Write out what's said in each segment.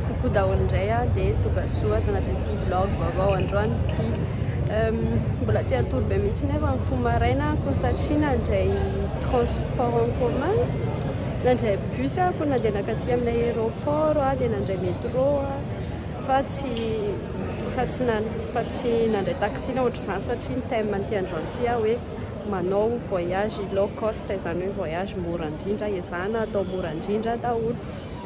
Coucou daholo indray a, dia tonga soa ato anatin'ity vlog vaovao androany ity. Mbola te hatory be mihitsy nefa ny fo maraina ko satria nandray transport en commun, nandray bus ako nandeha nakaty amin'ilay aéroport a, dia nandray métro a, fa tsy fa tsy fa tsy nandray taxi na ohatr'izany satria ny thème an'ity androany ity aho hoe manao voyage low cost izany hoe voyage mora indrindra, ezahana atao mora indrindra daholo.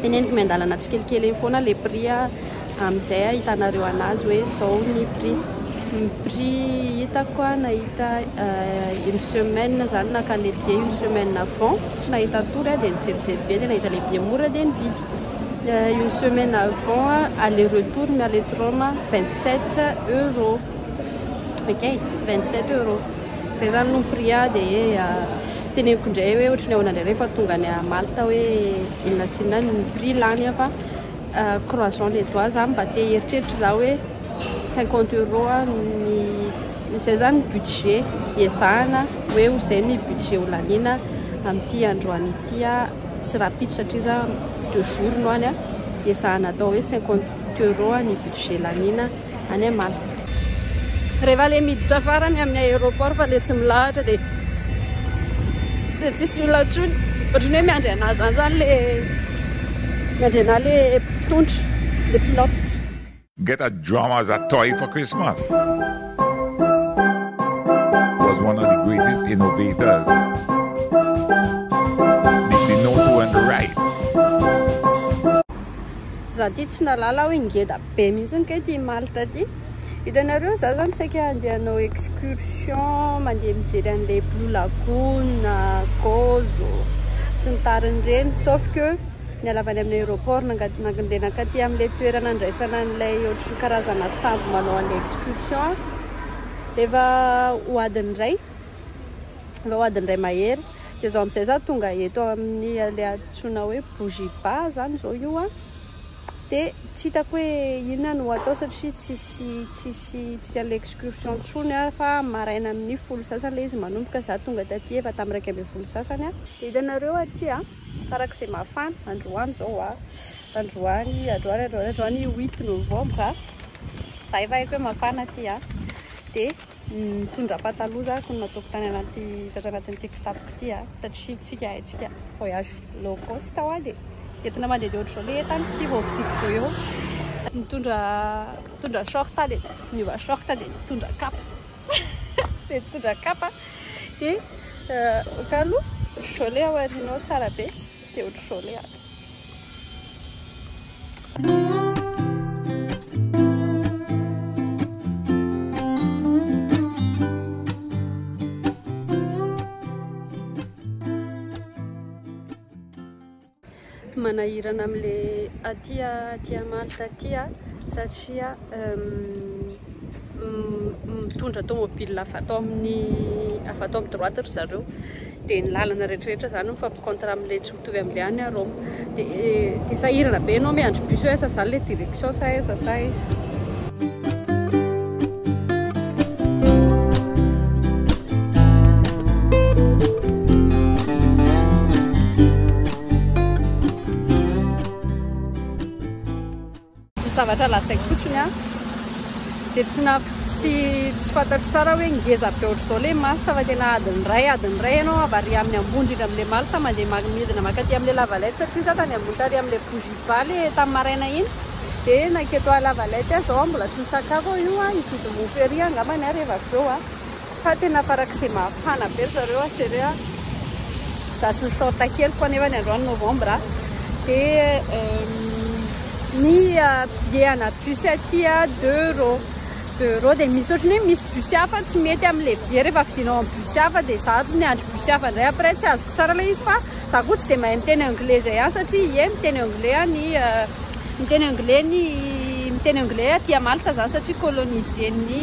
Teneniko miandalana tsikelikely eny foana le prix a, amizay ahitanareo anazy hoe zao ny prix. Ny prix hitako a nahita une semaine zany naka le billet une semaine avant tsy nahita tory a de nijerijery be de nahita le billet mora de nividy une semaine avant aller retour miala eto Roma vingt sept euros. Ok, 27 euros. Zay zany no prix a de ah, teneniko ndray hoe ohatry ny ahoana ndray rehefa tonga any à Malte hoe inona sy inona ny prix lany a fa ah, croissant les doigts zany mba te hieritreritra za hoe 50 euros a ny izay zany ny budget iezahana hoe ho zay ny budget ho laniana amin'ity androany ity a, sy rahampitso satria za deux jours no any a, iezahana atao hoe 50 euros ny budget laniana. any à Malte. Rehefa le miditra farany amin'ny aéroport fa le tsy milahatra de de tsisy olona intsony ohatry ny hoe miandry anah zany zany le miandry anah le mpitondra le pilote. Ngeda drama za toi efa Christmas was one of the greatest innovators did the note went right. Za ty tsy nahalala aho i Ngeda. Be mihitsy kay ity Malte ity. Hitanareo za zany saika handeha hanao excursion, mandeha mijery an'ilay Blue Lagoon, Gozo sy ny tariny ireny. Sauf que nialava any amin'ny aéroport nandeha nankaty amin'ilay toerana andraisana an'ilay ohatry ny karazana sambo manao an'ilay excursion. Efa ho adiny iray, efa ho adiny iray mahery. Dia izao amin'izay za tonga eto amin'ny ilay antsoina hoe Bougiba zany izao io a. Dia tsy hitako hoe inona no atao satria tsisy tsisy tsisy an'ilay excursion intsony aho fa maraina amin'ny folo sy sasany ilay izy manomboka, za tonga taty efa tamin'ny iraika ambin'ny folo sy sasany aho. Dia hitanareo aty a, farak'izay mafana androany izao a, androany androany androany androany huit novembre a, za efa haiko hoe mafana aty a, dia Nitondra pataloha za koa nataoko tany anaty tatra anatin'ity kitapoko ity a ah. satria tsika haintsika voyage low cost hoa dia entina mandeha dia ohatr'izao le entana ity vao vidiko vao eo nitondra nitondra short dia niova short dia nitondra kapa dia nitondra kapa dia eh, kalo jole aorianao tsara be Tsy ohatr'izao ilay ahy. Manahirana amin'ilay aty aty Malte aty satria mitondra tomobile avy ato amin'ny avy ato amin'ny droite ry zareo dia ny lalana rehetrarehetra zany mifampikontra amin'ilay tsy mitovy amin'ilay any à Roma dia dia sahirana be ianao miandry bus hoe aiza zany ilay direction sa aiza sa aiza Ny zavatra lazaiko fotsiny an, dia tsy na tsy tsy fantatro tsara hoe ngeza be ohatr'izao ilay malta fa tena adiny iray adiny iray ianao avy ary amin'ny ambony indrindra amin'ilay malta mandeha ma- midina mankaty amin'ilay lavalette satria za tany ambony tary amin'ilay bougie ba le tamin'ny maraina iny dia naketo lavalette aho izao aho mbola tsy nisakafo aho io an hividy mofo ery aho angambany ary rehefa avy eo an Fa tena farak'izay mafana be ry zareo a Seré a! Za tsy mi-short keliko anefa ny androany novembre a! Dia ny billet ana bus aty a deux euros, deux euros dia misy ohatran'ny hoe misy bus hafa tsy mety amin'ilay billet rehefa vidinao amin'ny bus hafa dia za ny andro bus hafa indray après tsy azoko tsara ilay izy fa za koa tsy dia mahay miteny anglais izay any satria ie miteny anglais any miteny anglais ny miteny anglais aty a Malte za satria coloniser-n'ny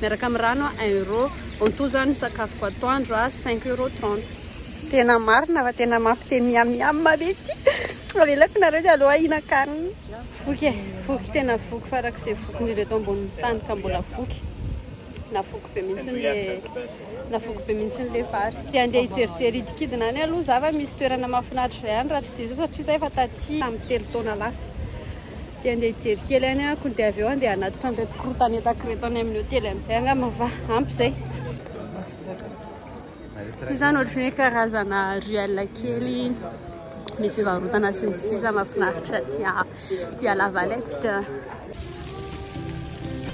miaraka amin'ny rano un euro, en tout zany ny sakafoko atoandro a cinq euro trente. Tena marina fa tena mampi te miam miam be ity avelako nareo dia aleo ahinan-kanina. Voky e, voky tena voky farak'izay vokin'ny ireto ambonin'ny tany ka mbola voky. Navoky be mihitsy ny le navoky be mihitsy ny le vary. Te handeha hijerijery hidikidina any aloha za fa misy toerana mahafinaritra izay any raha tsy diso aho satria za efa taty tamin'ny telo taona lasa. Dia andeha hijery kely any ah kony dia avy eo andeha hanatitra an'ireto korontana entako ireto any amin'ny hotely amin'izay angamba fa ampy izay. Io zany ohatry ny hoe karazana ruelle kely misy fivarotana sy ny sisa mahafinaritra aty à la Valette.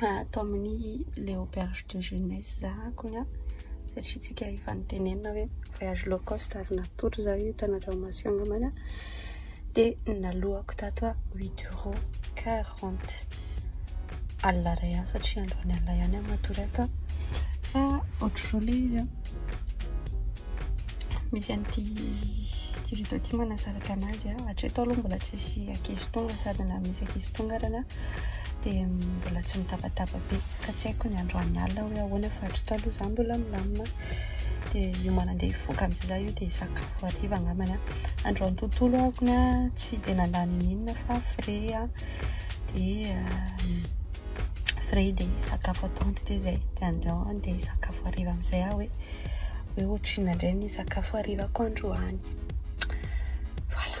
ato amin'ny Le Auberge de Jeunesse za kony an, satria tsika efa nitenenina hoe voyage low cost ary natory za io tany Andranomasina angambany an, dia naloako tato an huit euros quarante alina iray an, satria androany alina ihany aho matory ato an, fa ohatr'izao le izy an, misy an'ity ity rideau ity manasaraka anazy an, hatreto aloha mbola tsisy ankizy tonga sady na misy ankizy tonga arany an, dia mbola tsy mitabataba be ka tsy haiko ny androany alina hoe ahoana fa hatry taloha izaho mbola milamina dia hiomana andeha hivoaka amin'izay izaho io dia hisakafo hariva angambany aho androany tontolo ahako ny ahy tsy dia nandany n'inona fa frais aho dia frais dia sakafo atoandro dia izay dia andeha andeha hisakafo hariva amin'izay aho hoe hoe ohatrinona indray ny sakafo harivako androany voilà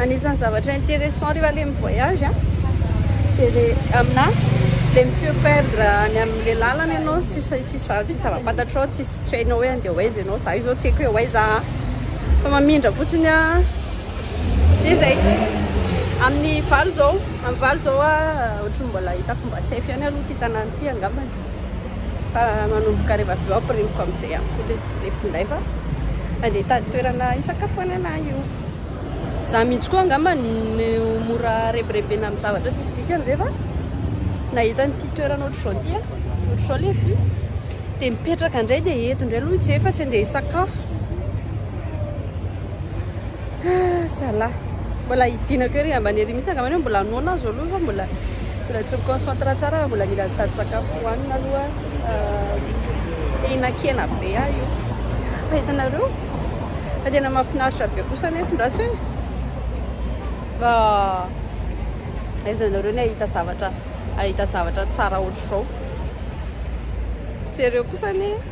Anisany zavatra intéressant rehefa le mi-voyage a, dia le aminà le mi-se perdre any amin'le làlana ianao, tsisy tsisy va- tsisy zava-pantatrao, tsisy tsy hainao hoe andeha ho aiza ianao, za io zao tsy haiko hoe ho aiza a, fa mamindra fotsiny a, dia zay. Amin'ny valo zao, amin'ny valo zao a, ohatry ny mbola hitako mba safe ihany aloha ty tanàna ty angambany. fa manomboka rehefa avy eo ampirimiko amin'izay ihany koa le le finday fa andeha hitady toerana hisakafoanana ahy io za mihitsy koa angamba ny mora rebirebena amin'ny zavatra tsisy dikany rehefa nahita an'ity toerana ohatr'izao ty a ohatr'izao le vue dia mipetraka indray dia eto indray aloha hijery fa tsy andeha hisakafo Ah, zalahy. Mbola hidinako ery ambany ery mihitsy angamba hoe mbola noana azo aloha fa mbola mbola tsy mi-concentre tsara fa mbola mila mitady sakafo hohanina aloha. Ah, hihinan-kena be aho io. Fa hitanareo fa tena mahafinaritra be kosa ny eto ndraso e. Mba aiza nareo ny hahita zavatra hahita zavatra tsara ohatr'izao. Jereo kosa anie.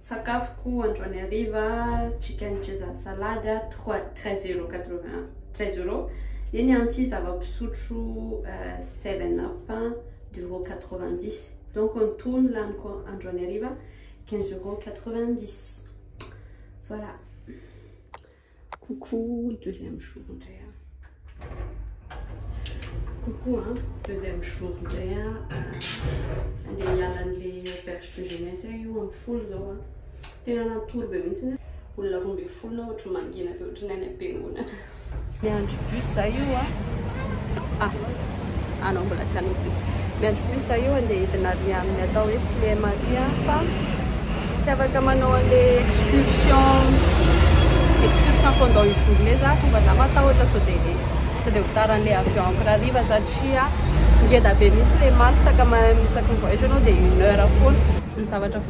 Sakafoko androany hariva chicken Caesar salade trois treize euros quatre vingt un treize euros dia ny ampy zava-pisotro seven up deux euros quatre vingt dix donc ny toa ny laniko androany hariva quinze euros quatre vingt dix voilà. Coucou, deuxième jour indray an. Coucou an, deuxième jour indray an. Andeha hiala an'ilay auberge de jeunesse aho io amin'ny folo izao an. Tena natory be mihitsy hoe olona roa ambin'ny folo na ohatry ny mangina be ohatry ny any am-piangonana. Miandry bus za io an. Ah. anao mbola tsy any plus miandry plus za io andeha hidina ary amin'ny atao hoe sle maria fa tsy afaka manao an'le excursion excursion pendant une journée za fa mba za matahotra sao dia le sao dia ho tara an'le avion ampy rariva satria ngeda be mihitsy le martaka isaky ny voyage anao dia une heure foana ny zavatra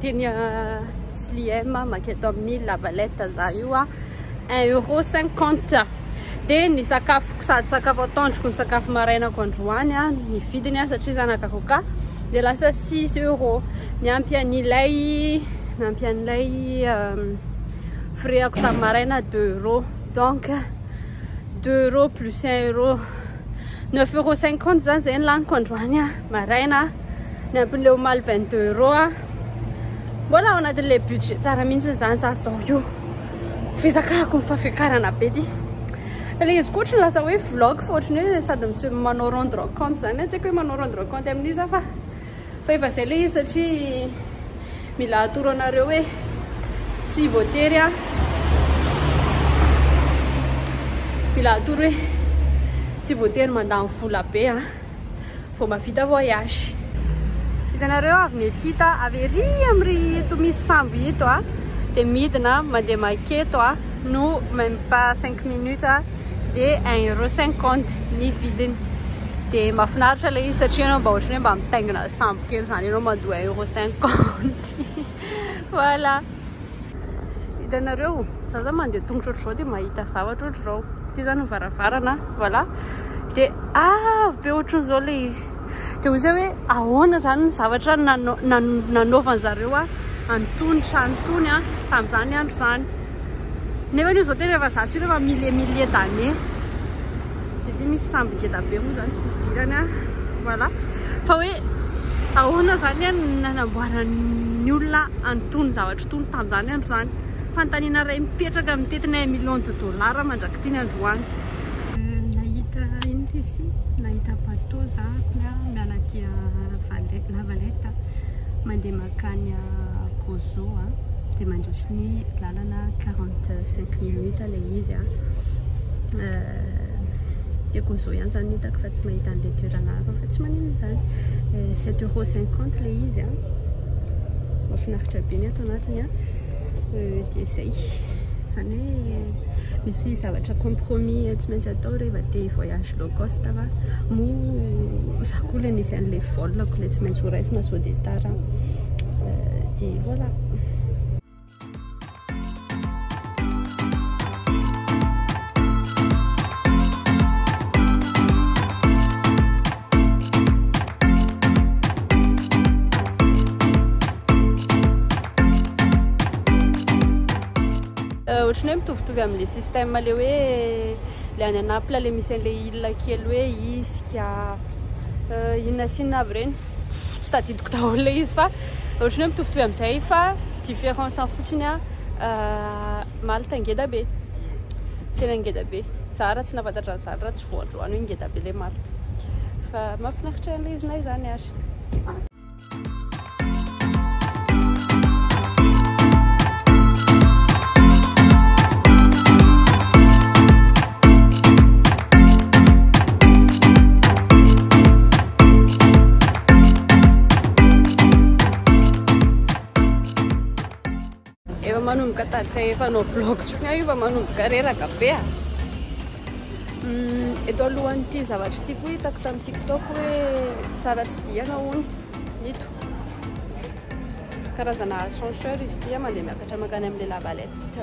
Teny Slim maketo amin'ny Lavalette za io a, un euro cinquante dia ny sakafoko sady sakafo atoandroko ny sakafo marainako androany a, ny vidiny a satria za naka coca dia lasa six euro niampy an'ilay niampy an'ilay frais-ako tamin'ny maraina deux euro donc deux euro plus un euro neuf euro cinquante zany zay ny laniko androany a maraina. ny ampin'ilay omaly 22 euros a mbola ao anatin'ilay budget tsara mihitsy izany za zao io fizakako ny fafiakarana be ty ilay izy koa ohatrany lasa hoe vlog fa ohatrany hoe sady misy manao rendre compte zany tsy haiko hoe manao rendre compte amin'iza fa fa efa izay ilay izy satria mila atoro anareo hoe tsy voatery a mila atoro hoe tsy voatery mandany vola be a Vao mavita voyage. Hitanareo avy miampita avy ery am ry ito misy sambo ito a. Dia midina mandeha maketo a. No même pas 5 minutes a. Dia 1 euro 50 ny vidiny. Dia mafinaritra le izy satria ianao mba ohatran'ny hoe mba mitaingina sambo kely zany ianao mandoa 1 euro 50. Voilà. Hitanareo, za zany mandeha tongotra ohatr'izao dia mahita zavatra ohatr'izao. Ity zany ny varavarana, voilà. Dia avo be ohatr'izao ilay izy. Dia ho izay hoe ahoana zany ny zavatra nanaovan'ny zareo an'itony trano itony tamin'izany andro izany. Nefa io izao tena efa za sy ireo efa milliers milliers d'années. dia ity misy sambo ngeda be moa izany tsy hidirany an, voilà, fa hoe ahoana izany an no nanamboaran'ny olona an'itony zavatra itony tamin'izany andro izany, fanontaniana iray mipetraka amin'ny tetina un million de dollars mandrak'ity ny androany. Nahita ino ity si? Nahita bateau za kony an, miala aty Val, La Valette mandeha mankany Gozo an, dia mandritry ny lalana. Lalana 45 minutes ilay izy a. Dia gozo ihany izany no hitako fa tsy mahita an'ilay toerana hafa fa tsy maninona izany. 7 euros 50 ilay izy a. Mahafinaritra be ny ato anatiny a. Dia izay. Izany hoe misy zavatra compromis tsy maintsy atao rehefa te hi-voyage low cost va? Moa za koa ilay nisy an'ilay vol-ko ilay tsy maintsy horaisina sao dia tara. Dia voilà. ohatran'ny hoe mitovitovy amin'ilay système le hoe le any anapla le misy an'ilay ila kely hoe isika euh, inona sinona avy ireny Tsy tadidiko daholo ilay izy fa ohatran'ny hoe mitovitovy amin'izay fa différence-ny fotsiny a Malte ngeda be. Tena ngeda be. Za raha tsy nahafantatra an'izany raha tsy voandroany hoe ngeda be ilay Malte. Fa mahafinaritra an'ilay iznay izany ary. Efa manomboka tatsy efa no vlog tsony aho efa manomboka reraka be a. Hmm, eto alohan'ity zavatra ity koa hitako tamin'ny TikTok hoe tsara tsy diana hono nito. Karazana ascenseur izy ity mandeha miakatra makany amin'ilay lavalette.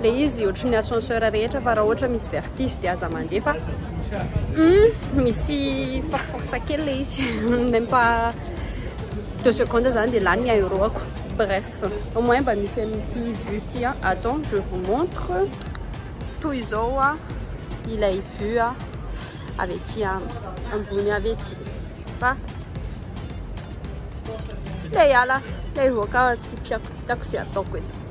Ilay izy ohatry ny ascenseur rehetra fa raha ohatra misy vertige dia aza mandeha fa hum misy force force kely ilay izy même pas deux secondes zany dia lany ny aéro-ako bref au moins mba misy amin'ity vue ity a attends je vous montre toy izao a ilay vue a avy aty ambony avy aty fa ilay ala ilay voaka tsy fiako tsy hitako izay ataoko eto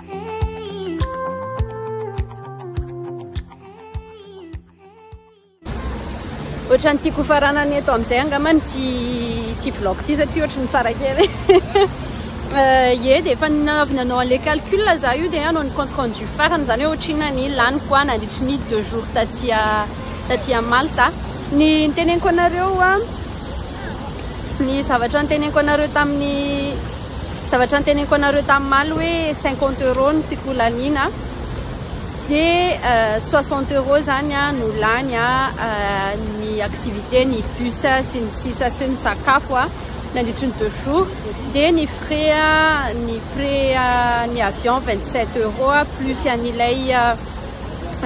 Ohatran'ny tiako faranany eto amin'izay angamba ity ity vlog ity satria ohatran'ny tsara kely. Ye dia efa avy nanao an'ilay calcul za io dia hanao ny compte rendu farany izany hoe ohatrinona ny laniko a nandritry ny deux jours taty taty Malta. Ny niteneniko anareo a ny zavatra niteneniko anareo tamin'ny Zavatra noteneniko anareo tamin'ny maly hoe cinquante euros no tiako ho laniana dia soixante euros izany no lany ny activité, ny bus sy ny sisa sy ny sakafo nandritry ny deux jours dia ny frais ny frais ny avion vingt sept euros plus an'ilay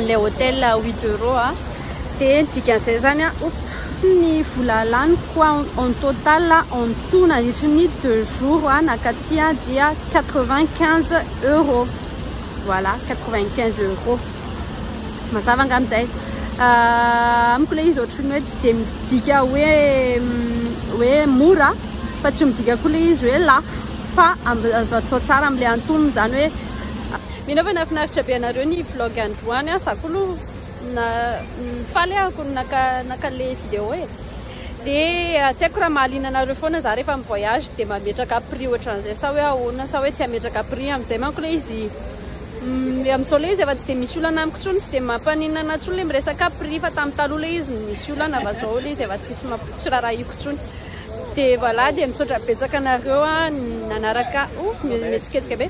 le hotel à 8 euros a de ny dikan'izay zany a oop ny vola laniko a en total a en tout nandritry ny deux jours a nakaty a dia 95 euros voilà 95 euros mazava nga amizay amiko le izy ohatry ny hoe tsy de midika hoe hoe mora fa tsy midika koa le izy hoe lafo fa azo atao tsara amle antonony zany hoe Mino aho fa nahafinaritra be anareo ny vlog androany an! Za koa aloha faly ahako ny naka le video e! Dia tsy haiko raha mahaliana anareo foana za rehefa mi voyage dia mametraka prix ohatran'izay sa hoe ahoana sa hoe tsy hametraka prix amin'izay manko ilay izy amin'izao ilay izy efa tsy dia misy olana amiko intsony tsy dia mampaninona anahy intsony ilay miresaka prix fa tamin'ny taloha ilay izy nisy olana fa izao ilay izy efa tsisy tsy rarahiko intsony dia voilà dia misaotra betsaka anareo an! Nanaraka oh! Mihetsiketsika be!